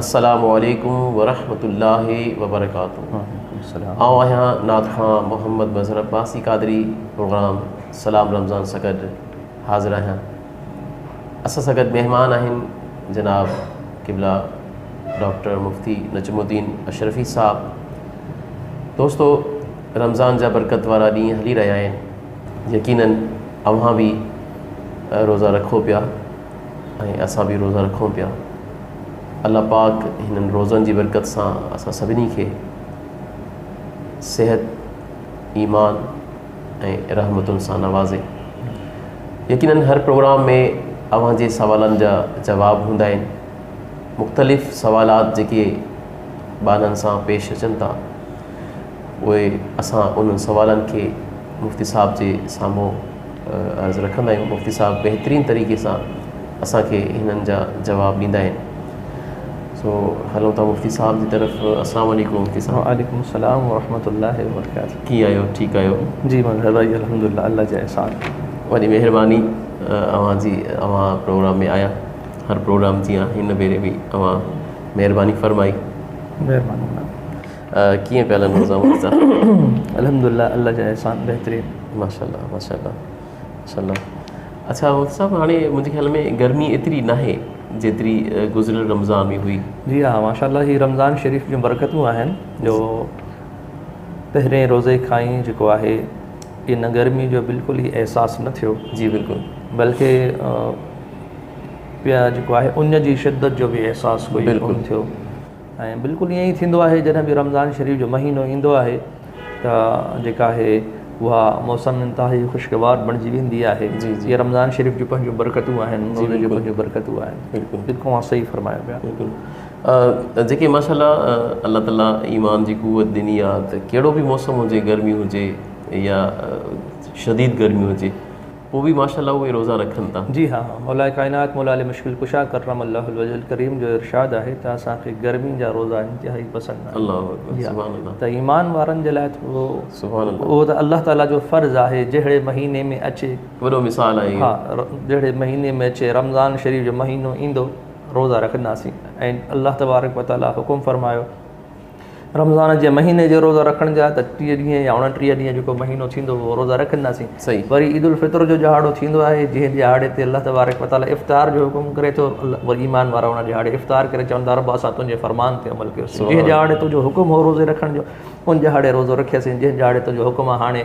السلام عليڪم ورحمة الله وبرڪاته وعليڪم السلام آئون آهيان نعت خوان محمد مظهر عباسي قادري پروگرام سلام رمضان سان گڏ حاضر آهيان اسان سان گڏ مهمان آهن جناب قبلا ڊاڪٽر مفتي نجم الدين اشرفي صاحب دوستو رمضان جا برڪت وارا ڏينهن هلي رهيا آهن يقينن اوهان به روزا رکو پيا ۽ اسان به روزا رکون پيا الله پاڪ هنن روزن جي برڪت سان اسان سڀني کي صحت ايمان ۽ رحمتن سان نوازي يقينن هر پروگرام ۾ اوهان جي سوالن جا جواب هوندا آهن مختلف سوالات جيڪي ٻانهن سان پيش اچن ٿا اهي اسان انهن سوالن کي مفتي صاحب جي سامهون عرض رکندا آهيون مفتي صاحب بهترين طريقي سان اسانکي هنن جا جواب ڏيندا آهن سو هلون ٿا مفتي صاحب جي طرف السلام عليڪم مفتي صاحب وعليڪم السلام ورحمة الله وبرڪاته ڪيئن آهيو ٺيڪ آهيو جي مظهر ڀائي الحمدلله الله جي احسان وڏي مهرباني اوهان جي اوهان پروگرام ۾ آيا هر پروگرام جيان هن ڀيري به اوهان مهرباني فرمائي مهرباني ڪيئن پيا هلن روزا ووزا. الحمدالله الله جا احسان بهترين. ماشاءالله ماشاءالله ماشاءالله اڇا مفتي صاحب هاڻي منهنجي خيال ۾ گرمي ايتري ناهي جيتري گذريل رمضان ۾ هئي. جي ها ماشاءالله هي رمضان شريف جون برڪتون آهن جو پهرين روزي کان ئي جيڪو آهي ان گرمي جو بلڪل ئي احساس نه ٿيو جي بلڪل بلڪه پيا جيڪو آهي ان جي شدت جو به احساس ڪجهه ڪونه ٿيو. ۽ بلڪل ائين ئي ٿيندو آهي جڏهن به رمضان شريف جو مهينو ايندو آهي ته جيڪا آهي اها موسم انتهائي خوشگوار بڻجي ويندي آهي جي رمضان شريف جون پنهنجون برڪتون آهن روزي جون پنهنجون برڪتون آهن بلڪل اوهان صحيح فرمايو پيا بلڪل جيڪي ماشاءالله الله تعالي ايمان جي قوت ڏني آهي ته ڪهڙو به موسم هجي گرمي هجي يا شديد گرمي هجي هو به ماشاء الله اهي روزا رکن ٿا. جي ها مولائي ڪائنات مولا علي مشڪل ڪشا ڪرم الله الوجه الڪريم جو ارشاد آهي ته اسان کي گرمي جا روزا انتهائي پسند آهن. الله اڪبر جي ها سبحان الله. ته ايمان وارن جي لاء ته اهو سبحان الله. اهو ته الله تعالي جو فرض آهي جهڙي مهيني ۾ اچي. وڏو مثال آهي ها اهو. ر جهڙي مهيني ۾ اچي رمضان شريف جو مهينو ايندو روزا رکنداسين ۽ الله تبارڪ وتعالي حڪم فرمايو. رمضان جي مهيني جو روزو رکڻ جا ته ٽيهه ڏينهن يا اڻٽيهه ڏينهن جيڪو مهينو ٿيندو اهو روزا رکنداسين صحيح وري عيد الفطر جو ڏهاڙو ٿيندو آهي جنهن ڏهاڙي تي الله تبارڪ وتعالي افطار جو حڪم ڪري ٿو وري ايمان وارا ان ڏهاڙي افطار ڪري چون ٿا ربا اسان تنهنجي فرمان تي عمل ڪيوسين جنهن ڏهاڙي تنهنجو حڪم هو روزي رکڻ جو ان ڏهاڙي روزو رکياسين جنهن ڏهاڙي تنهنجو حڪم آهي هاڻي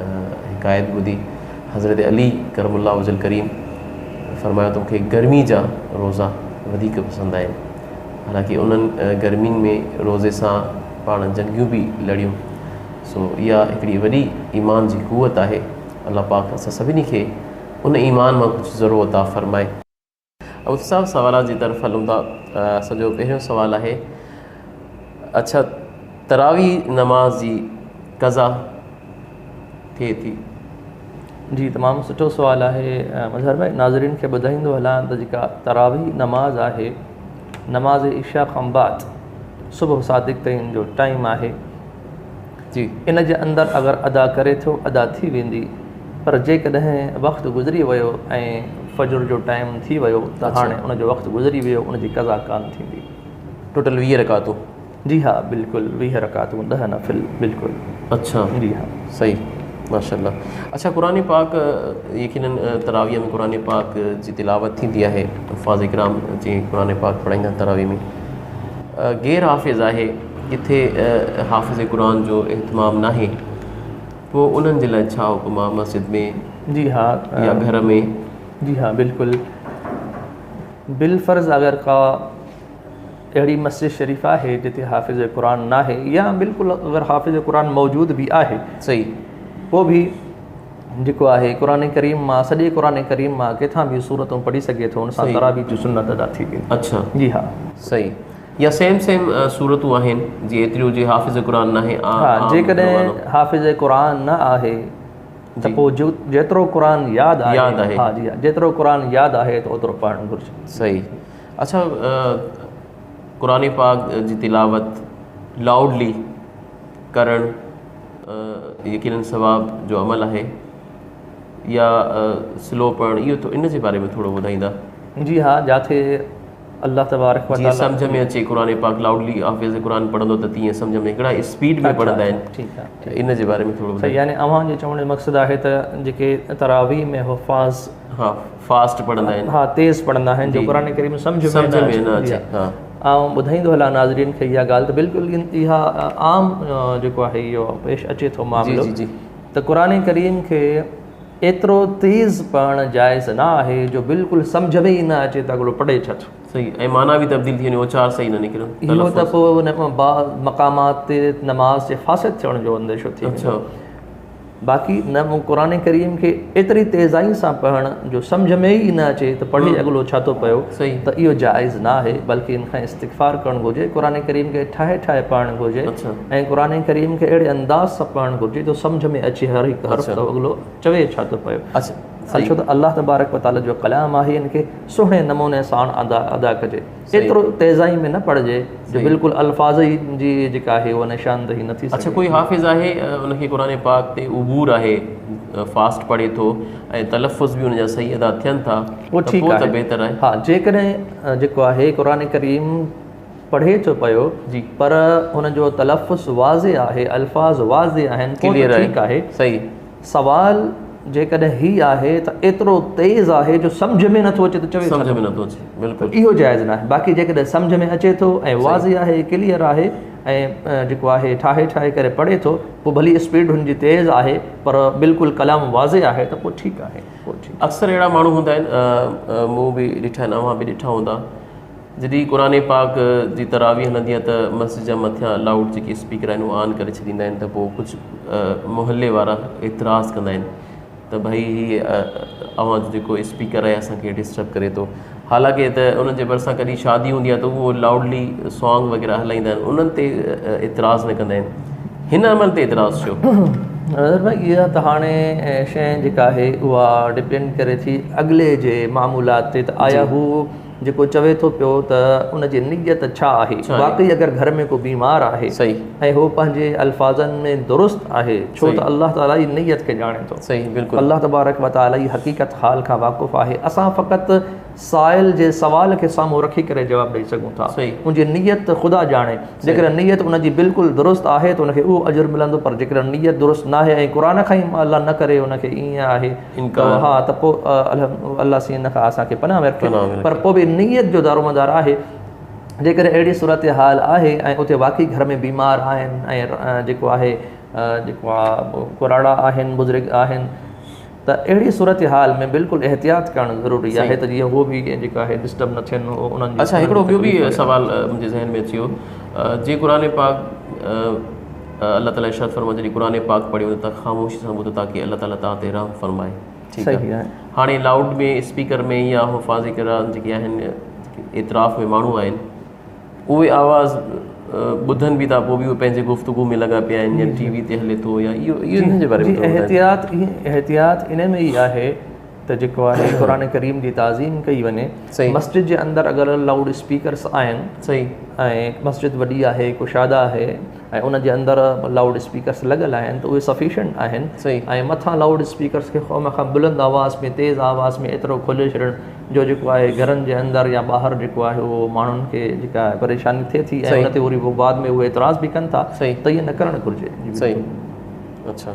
هڪ آيت ٻڌي حضرت علي ڪرم الله وجه الڪريم فرمايو ته مون کي گرمي جا روزا وڌيڪ پسند آهن حالانڪه انهن گرمين ۾ روزي سان پاڻ جنگيون به لڙيون سو اها هڪڙي وڏي ايمان جي قوت آهي الله پاڪ اسان سڀني کي ان ايمان مان ڪجهه ذرو عطا فرمائي عوض صاحب سوالات جي طرف هلون ٿا اسان جو پهريون سوال آهي اڇا تراوي نماز جي قضا ٿئي ٿي. جي تمام سٺو سوال آهي مظهر ڀائي ناظرين کي ٻڌائيندو هلان ته جيڪا تراوي نماز آهي نماز عشا کان بعد صبح صادق تائين جو ٽائيم آهي جي ان جي اندر اگر ادا ڪري ٿو ادا ٿي ويندي پر جيڪڏهن وقت گذري ويو ۽ فجر جو ٽائيم ٿي ويو ته هاڻي ان جو وقت گذري ويو ان جي قضا ڪانه ٿيندي. ٽوٽل ويهه رڪعتون. جي ها بلڪل ويهه رڪعتون ڏهه نفل بلڪل اڇا جي ها. صحيح ماشاء الله اڇا قرآن پاڪ يقينن تراويح ۾ قرآن پاڪ جي تلاوت ٿيندي آهي حفاظ ڪرام جي قرآن پاڪ پڙهائيندا آهن تراويح ۾ غير حافظ آهي ڪٿي حافظ قرآن جو اهتمام ناهي پوء انهن جي لاء ڇا حڪم آهي مسجد ۾ جي ها يا گهر ۾؟ جي ها بلڪل بالفرض اگر ڪا اهڙي مسجد شريف آهي جتي حافظ قرآن ناهي يا بلڪل اگر حافظ قرآن موجود به آهي صحيح پوء به جيڪو آهي قرآن ڪريم مان سڄي قرآن ڪريم مان ڪٿان به صورتون پڙهي سگهي ٿو ان سان تراويح جي سنت ادا ٿي ويندي اڇا جي ها صحيح يا سيم سيم سورتون آهن جي ايتري هجي حافظ قرآن ناهي آ ها جيڪڏهن حافظ قرآن نه آهي ته پوء جيترو قرآن ياد آهي ياد آهي ها جي ها جيترو قرآن ياد آهي ته اوترو پڙهڻ گهرجي صحيح اڇا قرآن پاڪ جي تلاوت لائوڊلي ڪرڻ يقينن ثواب جو عمل آهي يا سلو پڙهڻ اهو ان جي باري ۾ ٿورو ٻڌائيندا جي ها جاٿي الله تبارڪ وتعالي جيئن سمجهه ۾ اچي قرآن پاڪ لائوڊلي حافظ قرآن پڙهندو ته تيئن سمجهه ۾ ڪهڙا اسپيڊ ۾ پڙهندا آهن ٺيڪ آهي ٺيڪ ان جي باري ۾ ٿورو ٻڌايو يعني اوهان جو چوڻ جو مقصد آهي ته جيڪي تراويح ۾ حفاظ ها فاسٽ پڙهندا آهن ها تيز پڙهندا آهن جو قرآن ڪريم سمجهه ۾ سمجهه ۾ نه اچي ها آئون ٻڌائيندو هلان ناظرين کي اها ڳالهه ته بلڪل اها عام جيڪو آهي اهو پيش اچي ٿو معاملو ته قرآن ڪريم کي ايترو تيز پڙهڻ جائز نه آهي جو بلڪل سمجهه ۾ ئي نه اچي ته اڳڙو پڙهي ڇا ٿو. صحيح ۽ معنيٰ به تبديل ٿي وڃي اوچار صحيح نه نڪرن اهو ته تلفظ. پوء ان کان بعد مقامات تي نماز جي فاسد ٿيڻ جو انديشو ٿي ويندو. اڇا. باقي نه مون قرآن ڪريم کي ايتري تيزائي سان پڙهڻ جو سمجهه ۾ ئي نه اچي ته پڙهي ھمم اڳلو ڇا ٿو پيو صحيح. ته اهو جائز نه آهي بلڪه ان کان استغفار ڪرڻ گهرجي قرآن ڪريم کي ٺاهي ٺاهي پڙهڻ گهرجي. اڇا. ۽ قرآن ڪريم کي اهڙي انداز سان پڙهڻ گهرجي جو سمجهه ۾ اچي هر هڪ حرف جو اڳلو چوي ڇا ٿو پيو ۽ ڇو ته الله تبارڪ و تعالي جو ڪلام آهي ان کي سهڻي نموني ساڻ ادا ڪجي ايترو تيزائي ۾ نه پڙهجي جو بلڪل الفاظ ئي جي جيڪا آهي اها نشاندهي نه ٿي سگهي اڇا ڪوئي حافظ آهي ان کي قرآن پاڪ تي عبور آهي فاسٽ پڙهي ٿو ۽ تلفظ به ان جا صحيح ادا ٿين ٿا ته پوء ته بهتر آهي ها جيڪڏهن جيڪو آهي قرآن ڪريم پڙهي ٿو پيو پر ان جو تلفظ واضح آهي الفاظ واضح آهن پوء ته ٺيڪ آهي سوال جيڪڏهن هي آهي ته ايترو تيز آهي جو سمجهه ۾ نٿو اچي ته چوي ڇا ٿو اهو جائز ناهي باقي جيڪڏهن سمجهه ۾ اچي ٿو ۽ واضح آهي ڪليئر آهي ۽ جيڪو آهي ٺاهي ٺاهي ڪري پڙهي ٿو پوء ڀلي اسپيڊ هن جي تيز آهي پر بلڪل ڪلام واضح آهي ته پوء ٺيڪ آهي اڪثر اهڙا ماڻهو هوندا آهن مون به ڏٺا آهن اوهان به ڏٺا هوندا جڏهن قرآن پاڪ جي تراويح هلندي آهي ته مسجد جا مٿيان لاؤڊ جيڪي اسپيڪر آهن اهي آن ڪري ڇڏيندا آهن ته پوء ڪجهه محلي وارا اعتراض ڪندا آهن ته ڀئي هي اوهان جو جيڪو اسپيڪر آهي اسانکي ڊسٽرب ڪري ٿو حالانڪه ته انهن جي ڀرسان ڪڏهن شادي هوندي آهي ته هو لاؤڊلي سانگ وغيره هلائيندا آهن انهن تي اعتراض نه ڪندا آهن هن عمل تي اعتراض ڇو نظر بھائی اها ته هاڻي شين جيڪا آهي اها ڊپينڊ ڪري ٿي اڳلي جي معمولات تي ته آيا هو جيڪو چوي ٿو پيو ته ان جي نيت ڇا آهي؟ واقعي اگر گهر ۾ ڪو بيمار آهي ۽ هو پنهنجي الفاظن ۾ درست آهي ڇو ته الله تعاليٰ ئي نيت کي ڄاڻي ٿو. الله تبارڪ و تعاليٰ ئي حقيقت حال کان واقف آهي. اسان فقط سائل جي سوال کي سامهون رکي ڪري جواب ڏئي سگهون ٿا. ان جي نيت ته خدا ڄاڻي. جيڪڏهن نيت ان جي بلڪل درست آهي ته ان کي اهو اجر ملندو پر جيڪڏهن نيت درست ناهي ۽ قرآن کان ئي الله نه ڪري ان کي ائين آهي انڪار. ها ته پوء الله سين ان کان اسان کي پناهه ۾ رکي پر پوء به نيت جو دارومدار آهي. جيڪڏهن اهڙي صورتحال آهي ۽ اتي واقعي گهر ۾ بيمار آهن ۽ جيڪو آهي جيڪو آ ڪراڙا آهن بزرگ آهن ته اهڙي صورتحال ۾ بلڪل احتياط ڪرڻ ضروري آهي ته جيئن هو به جيڪو آهي ڊسٽرب نه ٿين انهن جي اڇا هڪڙو ٻيو به سوال منهنجي ذهن ۾ اچيو جي قرآن پاڪ الله تعالي ارشاد فرمايو جڏهن قرآن پاڪ پڙهي وڃو ته خاموشي سان ٻڌو تاڪه الله تعالي توهان تي رحم فرمائي ٺيڪ آهي هاڻي لائوڊ ۾ اسپيڪر ۾ يا حفاظ ڪرام جيڪي آهن اعتراف ۾ ماڻهو آهن اهي آواز ٻڌن به ٿا پوء به اهي پنهنجي گفتگو ۾ لڳا پيا آهن يا ٽي وي تي هلي ٿو يا اهو اهو جي باري ۾ احتياط احتياط ان ۾ ئي آهي ته جيڪو آهي قرآن ڪريم جي تعظيم ڪئي وڃي مسجد جي اندر اگر لائوڊ اسپيڪرس آهن صحيح ۽ مسجد وڏي آهي ڪشادا آهي ۽ ان جي اندر لائوڊ اسپيڪرس لڳل آهن ته اهي سفيشنٽ آهن صحيح ۽ مٿان لائوڊ اسپيڪرس کي خوم کان بلند آواز ۾ تيز آواز ۾ ايترو کولي ڇڏڻ جو جيڪو آهي گهرن جي اندر يا ٻاهر جيڪو آهي اهو ماڻهن کي جيڪا پريشاني ٿئي ٿي ۽ ان تي وري بعد ۾ اهي اعتراض به ڪن ٿا ته ائين نه ڪرڻ گهرجي صحيح اڇا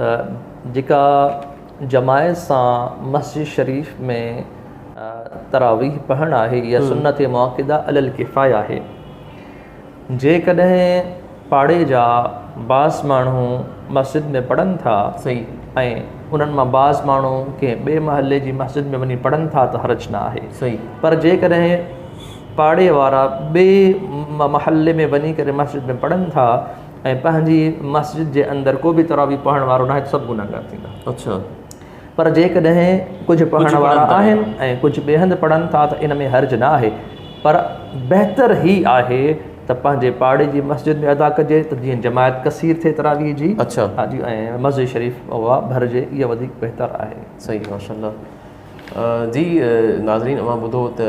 ته جيڪا جماعت سان مسجد شريف ۾ تراويح پڙهڻ آهي اها سنت مؤڪده علي الڪفايه آهي جيڪڏهن پاڙي جا بعض ماڻهو مسجد ۾ پڙهن ٿا ۽ انهن مان بعض ماڻهو ڪنهن ٻئي محلي جي مسجد ۾ وڃي پڙهن ٿا ته حرج نه آهي پر جيڪڏهن پاڙي وارا ٻئي محلي ۾ وڃي ڪري مسجد ۾ پڙهن ٿا ۽ پنهنجي مسجد جي اندر ڪو به تراويح پڙهڻ وارو ناهي ته سڀ گناهگار ٿيندا اڇا پر جيڪڏهن ڪجهه پڙهڻ وارا آهن ۽ ڪجهه ٻئي هنڌ پڙهن ٿا ته ان ۾ حرج نه آهي پر بهتر هي آهي ته پنهنجي پاڙي جي مسجد ۾ ادا ڪجي ته جيئن جماعت ڪثير ٿئي تراويح جي اڇا ها جي ۽ مسجد شريف اها ڀرجي اها وڌيڪ بهتر آهي صحيح ماشاء الله جي ناظرين اوهان ٻڌو ته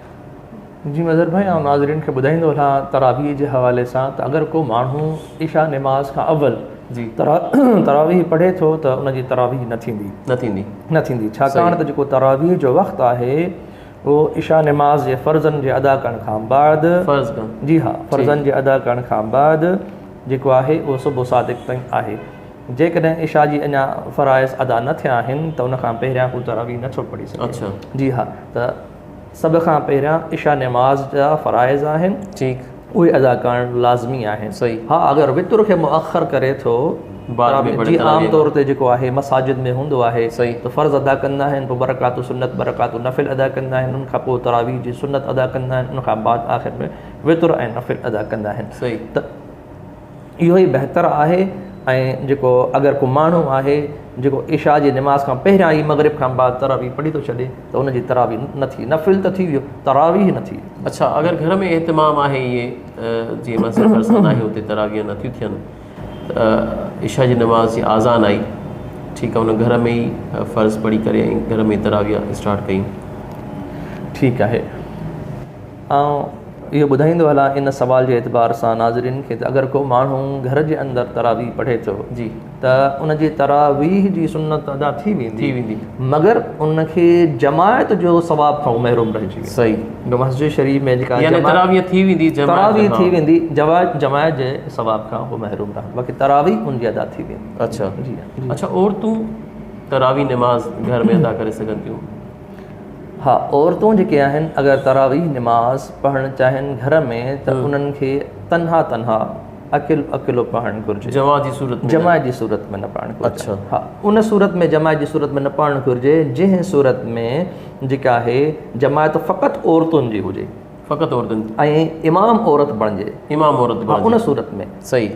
جي مظهر ڀائي آئون ناظرين کي ٻڌائيندو هلان تراويح جي حوالي سان ته اگر ڪو ماڻهو عشاء نماز کان اول جي تراويح پڙهي ٿو ته ان جي تراويح نه ٿيندي نه ٿيندي نه ٿيندي ڇاڪاڻ ته جيڪو تراويح جو وقت آهي اهو عشاء نماز جي فرضن جي ادا ڪرڻ کان بعد فرض ڪرڻ جي ها فرضن جي ادا ڪرڻ کان بعد جيڪو آهي اهو صبح صادق تائين آهي جيڪڏهن عشاء جي اڃا فرائض ادا نه ٿيا آهن ته ان کان پهريان هو تراويح نه ٿو پڙهي سگهي اڇا جي ها ته سڀ کان پهريان عشاء نماز جا فرائض آهن. ٺيڪ. اهي ادا ڪرڻ لازمي آهن. صحيح. ها اگر وتر کي مؤخر ڪري ٿو بعد ۾ پڙهي جيئن عام طور تي جيڪو آهي مساجد ۾ هوندو آهي صحيح. ته فرض ادا ڪندا آهن پوء ٻه رڪعتون سنت ٻه رڪعتون نفل ادا ڪندا آهن ان کان پوء تراويح جي سنت ادا ڪندا آهن ان کان بعد آخر ۾ وتر ۽ نفل ادا ڪندا آهن صحيح. ته اهو ئي بهتر آهي ۽ جيڪو اگر ڪو ماڻهو آهي جيڪو عشاء جي نماز کان پهريان ئي مغرب کان بعد تراويح پڙهي ٿو ڇڏي ته ان جي تراويح نه ٿي نفل ته ٿي ويو تراويح نه ٿي اڇا اگر گهر ۾ اهتمام آهي اهي جي مسجد ڀرسان ناهي اتي تراويح نه ٿيون ٿين ته عشاء جي نماز جي آذان آئي ٺيڪ آهي ان گهر ۾ ئي فرض پڙهي ڪري ۽ گهر ۾ تراويح اسٽارٽ ڪيون ٺيڪ آهي آئون اهو ٻڌائيندو هلان ان سوال جي اعتبار سان ناظرين کي ته اگر ڪو ماڻهو گهر جي اندر تراويح پڙهي ٿو ته ان جي تراويح جي سنت ادا ٿي ويندي مگر ان کي جماعت جو ثواب کان محروم رهجي ويندو صحيح مسجد شريف ۾ جيڪا يعني تراويح ٿي ويندي تراويح ٿي ويندي جماعت جي ثواب کان هو محروم رهندو باقي تراويح ان جي ادا ٿي ويندي اڇا اڇا عورتون تراويح نماز گهر ۾ ادا ڪري سگهن ٿيون ها عورتون جيڪي آهن اگر تراويح نماز پڙهڻ چاهين گهر ۾ ته انهن کي تنها تنها اڪيلو اڪيلو پڙهڻ گهرجي جماعت جي صورت ۾ جماعت جي صورت ۾ نه پڙهڻ گهرجي اڇا ها ان صورت ۾ جماعت جي صورت ۾ نه پڙهڻ گهرجي جنهن صورت ۾ جيڪا آهي جماعت فقط عورتن جي هجي فقط عورتن ۽ امام عورت بڻجي امام عورت بڻجي ان صورت ۾ صحيح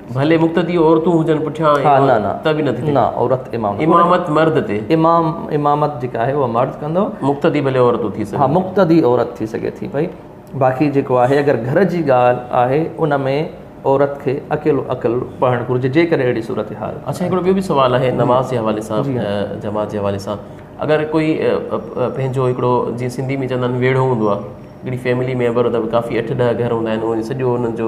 ڀلي مقتدي عورتون هجن پٺيان ته به نه ٿي نه عورت امام امامت مرد تي امام امامت جيڪا آهي اها مرد ڪندو مقتدي ڀلي عورتون ٿي سگهن ها مقتدي عورت ٿي سگهي ٿي پئي باقي جيڪو آهي اگر گهر جي ڳالهه آهي ان ۾ عورت کي اڪيلو اڪل پڙهڻ گهرجي جيڪڏهن اهڙي صورت حال اچھا هڪڙو ٻيو به سوال آهي نماز جي حوالي سان جماعت جي حوالي سان اگر ڪوئي پنهنجو هڪڙو جيئن سنڌي ۾ چوندا آهن ويڙهو هوندو آهي هڪڙي فيملي ميمبر ته ڪافي اٺ ڏهه گهر هوندا آهن سڄو انهن جو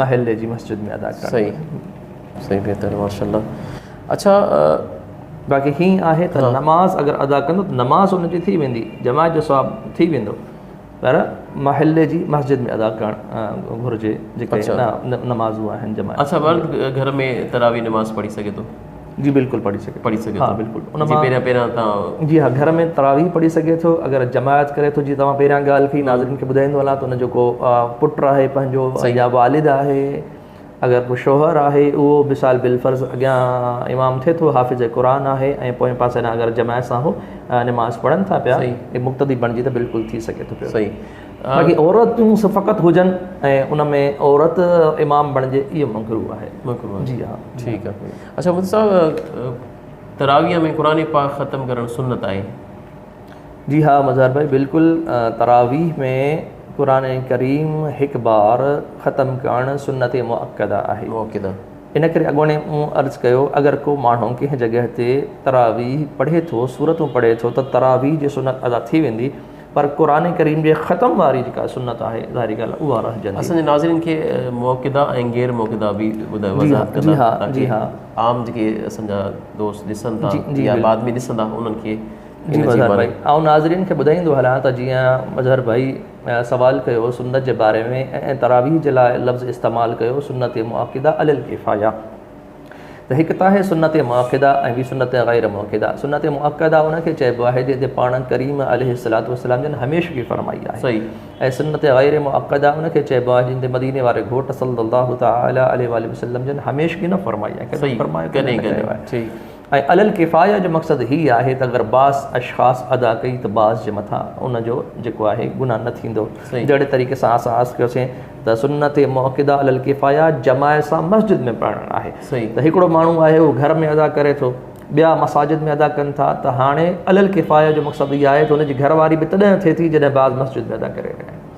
محلي جي مسجد ۾ ادا ڪرڻ صحيح صحيح بهتر ماشاءالله اچھا باقي هي آهي ته نماز اگر ادا ڪندو ته نماز ان جي ٿي ويندي جماعت جو ثواب ٿي ويندو پر محلي جي مسجد ۾ ادا ڪرڻ گهرجي جيڪي نمازون آهن جماعت اچھا مرد گهر ۾ تراوي نماز پڙهي سگهي ٿو جي بلڪل پڙهي سگهي پڙهي سگهي ٿو بلڪل ان مان پهريان پهريان تان جي ها گهر ۾ تراويح پڙهي سگهي ٿو اگر جماعت ڪري ٿو جي توهان پهريان ڳالهه ٿي ناظرين کي ٻڌائيندو هلان ته ان جو ڪو پٽ آهي پنهنجو يا والد آهي اگر ڪو شوهر آهي اهو مثال بالفرض اڳيان امام ٿئي ٿو حافظ قرآن آهي ۽ پوئين پاسي ڏانهن اگر جماعت سان هو نماز پڙهن ٿا پيا مقتدي بڻجي ته بلڪل ٿي سگهي ٿو پيو صحيح باقي عورتون فقط هجن ۽ ان ۾ عورت امام بڻجي اهو مڪروه آهي مڪروه جي ها ٺيڪ آهي اچھا مفت صاحب تراويح ۾ قرآن پاڪ ختم ڪرڻ سنت آهي جي ها مظهر ڀائي بلڪل تراويح ۾ قرآن ڪريم هڪ بار ختم ڪرڻ سنت مؤڪده آهي مؤڪده ان ڪري اڳوڻي مون عرض ڪيو اگر ڪو ماڻهو ڪنهن جڳهه تي تراويح پڙهي ٿو سورتون پڙهي ٿو ته تراويح جي سنت ادا ٿي ويندي پر قرآن ڪريم جي ختم واري جيڪا سنت آهي ظاهري ڳالهه اها رهجندي. اسان جي ناظرين کي موقدا ۽ غير موقدا به ٻڌايو وضاحت ڪندا تاڪي عام جيڪي اسان جا دوست ڏسن ٿا يا بعد ۾ ڏسندا انهن کي جي مظهر ڀائي آئون ناظرين کي ٻڌائيندو هلان ته جيئن مظهر ڀائي سوال ڪيو سنت جي باري ۾ ۽ تراويح جي لاء لفظ استعمال ڪيو سنت مؤڪده علي الڪفايه ته هڪ ته آهي سنت مؤڪده ۽ ٻي سنت غير مؤڪده. سنت مؤڪده ان کي چئبو آهي جنهن تي پاڻ ڪريم عليه الصلوة والسلام جن هميشگي فرمائي آهي ۽ سنت غير مؤڪده ان کي چئبو آهي جنهن تي مديني واري گهوٽ صلّي الله تعالٰي عليه واٰله وسلّم جن هميشگي نه فرمائي آهي ڪڏهن فرمايو ڪڏهن نه ڪيو آهي. ۽ علي الڪفايه جو مقصد هي آهي ته اگر بعض اشخاص ادا ڪئي ته بعض جي مٿان ان جو جيڪو آهي گناهه نه ٿيندو جهڙي طريقي سان اسان عرض ڪيوسين ته سنت مؤڪده علي الڪفايه جماعت سان مسجد ۾ پڙهڻ آهي ته هڪڙو ماڻهو آهي اهو گهر ۾ ادا ڪري ٿو ٻيا مساجد ۾ ادا ڪن ٿا ته هاڻي علي الڪفايه جو مقصد هي آهي ته ان جي گهر واري به تڏهن ٿئي ٿي جڏهن بعض مسجد ۾ ادا ڪري رهيا آهن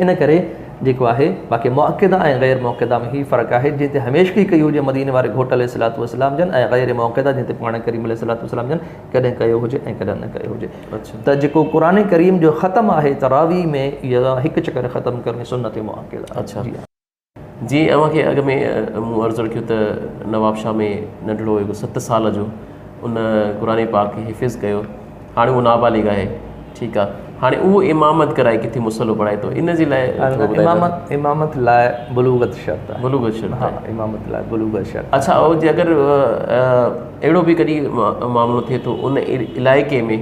ان ڪري جيڪو آهي باقي مؤڪده ۽ غير مؤڪده ۾ هي فرق آهي جنهن تي هميشگي ڪئي هجي مديني واري گهوٽ عليه الصلوة والسلام جن ۽ غير مؤڪده جنهن تي پاڻ ڪريم عليه الصلوة والسلام جن ڪڏهن ڪيو هجي ۽ ڪڏهن نه ڪيو هجي ته جيڪو قرآن ڪريم جو ختم آهي تراويح ۾ يا هڪ چڪر ختم ڪرڻي سنت مؤڪده آهي. جيئن اوهان کي اڳ ۾ مون عرض رکيو ته نوابشاهه ۾ ننڍڙو هڪ ست سال جو ان قرآن پاڪ کي حفظ ڪيو هاڻي اهو نابالغ آهي ٺيڪ آهي هاڻي اهو امامت ڪرائي ڪٿي مصلو پڙهائي ٿو ان جي لاء امامت لاء بلوغت شرط آهي بلوغت شرط آهي امامت لاء بلوغت شرط اڇا اهو جي اگر اهڙو به ڪڏهن معاملو ٿئي ٿو ان علائقي ۾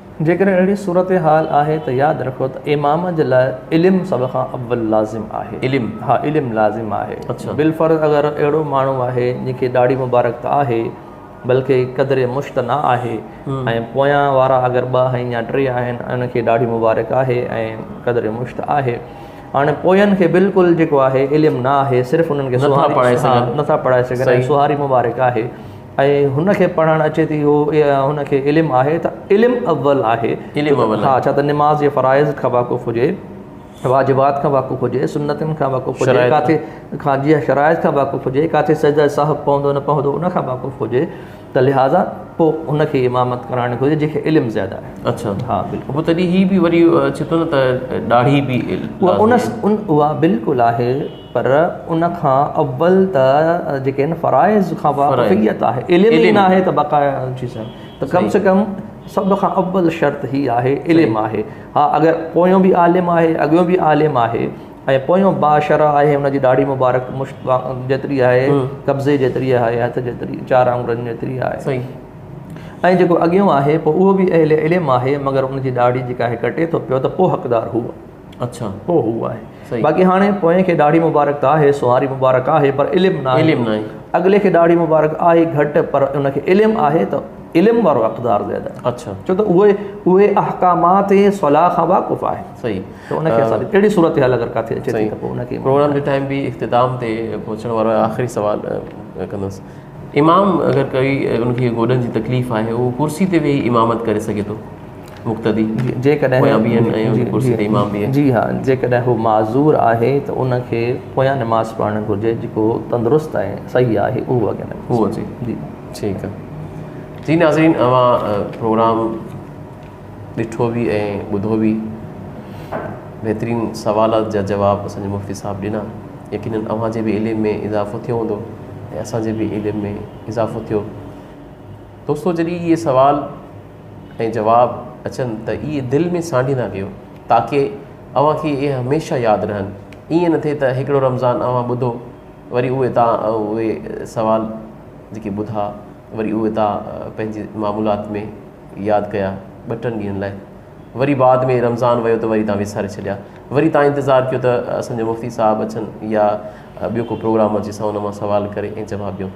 جيڪڏهن اهڙي صورتحال آهي ته ياد رکو ته امام جي لاء علم سڀ کان اول لازم آهي. علم؟ ها علم لازم آهي. اڇا. بالفرض اگر اهڙو ماڻهو آهي جنهن کي ڏاڙهي مبارڪ ته آهي بلڪه قدر مشت نه آهي ۽ پويان وارا اگر ٻه آهن يا ٽي آهن ۽ ان کي ڏاڙهي مبارڪ آهي ۽ قدر مشت آهي هاڻي پوين کي بالڪل جيڪو آهي علم نه آهي صرف انهن کي نٿا پڙهائي سگهن ۽ سهاري مبارڪ آهي. ۽ هن کي پڙهڻ اچي ٿي هو هن کي علم آهي ته علم اول آهي علم اول ها ڇا ته نماز جي فرائض کان واقف هجي واجبات کان واقف هجي سنتن کان واقف هجي ڪاٿي کان جي شرائط کان واقف هجي ڪاٿي سجده سهو پوندو نه پوندو ان کان واقف هجي ته لهٰذا پوء ان کي امامت ڪرائڻ گهرجي جنهن کي علم زياده آهي اچھا ها بلڪل پوء تڏهن هي به وري اچي ٿو نه ته ڏاڙهي به ان ان اها بلڪل آهي پر ان کان اول ته جيڪي آهن فرائض کان واقفيت آهي علم ئي ناهي ته بقايا ٿي سگهن ته ڪم سي ڪم سڀ کان اول شرط هي آهي علم آهي ها اگر پويون به عالم آهي اڳيون به عالم آهي ۽ پويون باشرع آهي ان جي ڏاڙهي مبارڪ مشت جيتري آهي قبضي جيتري آهي هٿ جيتري چار آڱرن جيتري آهي صحيح ۽ جيڪو اڳيون آهي پوء اهو به اهل علم آهي مگر ان جي ڏاڙهي جيڪا آهي ڪٽي ٿو پيو ته پوء حقدار هو اڇا پوء هو آهي صحيح باقي هاڻي پوئين کي ڏاڙهي مبارڪ ته آهي سونهاري مبارڪ آهي پر علم ناهي علم ناهي اڳلي کي ڏاڙهي مبارڪ آهي گهٽ پر ان کي علم آهي ته علم وارو اقدار زياده آهي اڇا ڇو ته اهي اهي احڪامات صلاح کان واقف آهي صحيح ته ان کي اسان اهڙي صورتحال اگر ڪاٿي اچي ٿي ته پوء ان کي پروگرام جو ٽائيم به اختتام تي پهچڻ وارو آهي آخري سوال ڪندس امام اگر ڪوي ان کي گوڏن جي تڪليف آهي اهو ڪرسي تي ويهي امامت ڪري سگهي ٿو مقتدي، پويان بيهن ۽ ان جي ڪرسي تي امام بيهي. جي ها، جيڪڏهن هو معذور آهي ته ان کي پويان نماز پڙهڻ گهرجي جيڪو تندرست ۽ صحيح آهي اهو اڳيان نه اچي. هو اچي. جي. ٺيڪ آهي. جي ناظرين اوهان پروگرام ڏٺو به ۽ ٻڌو به. بهترين سوالات جا جواب اسان جي مفتي صاحب ڏنا. يقينن اوهان جي به علم ۾ اضافو ٿيو هوندو ۽ اسان جي به علم ۾ اضافو ٿيو. دوستو جڏهن اهي سوال ۽ جواب اچن ته اهي دل ۾ سانڍيندا ڪيو تاڪه اوهان کي اهي هميشه ياد رهن. ائين نه ٿئي ته هڪڙو رمضان اوهان ٻڌو وري اهي تا اهي سوال جيڪي ٻڌا وري اهي تا پنهنجي معمولات ۾ ياد ڪيا ٻه ٽن ڏينهن لاء وري بعد ۾ رمضان ويو ته وري تا وساري ڇڏيا وري تا انتظار ڪيو ته اسان جو مفتي صاحب اچن يا ٻيو ڪو پروگرام اچي سان ان مان سوال ڪري ۽ جواب ڏيون.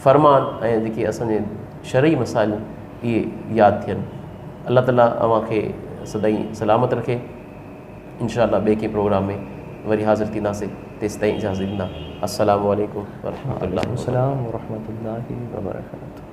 فرمان ۽ جيڪي اسان جي شرعي مسائل اهي ياد ٿين الله تعالي اوهان کي سدائين سلامت رکي انشاء الله ٻئي ڪنهن پروگرام ۾ وري حاضر ٿينداسي تيستائين اجازت ڏيندا السلام عليڪم ورحمة الله وبرڪاته.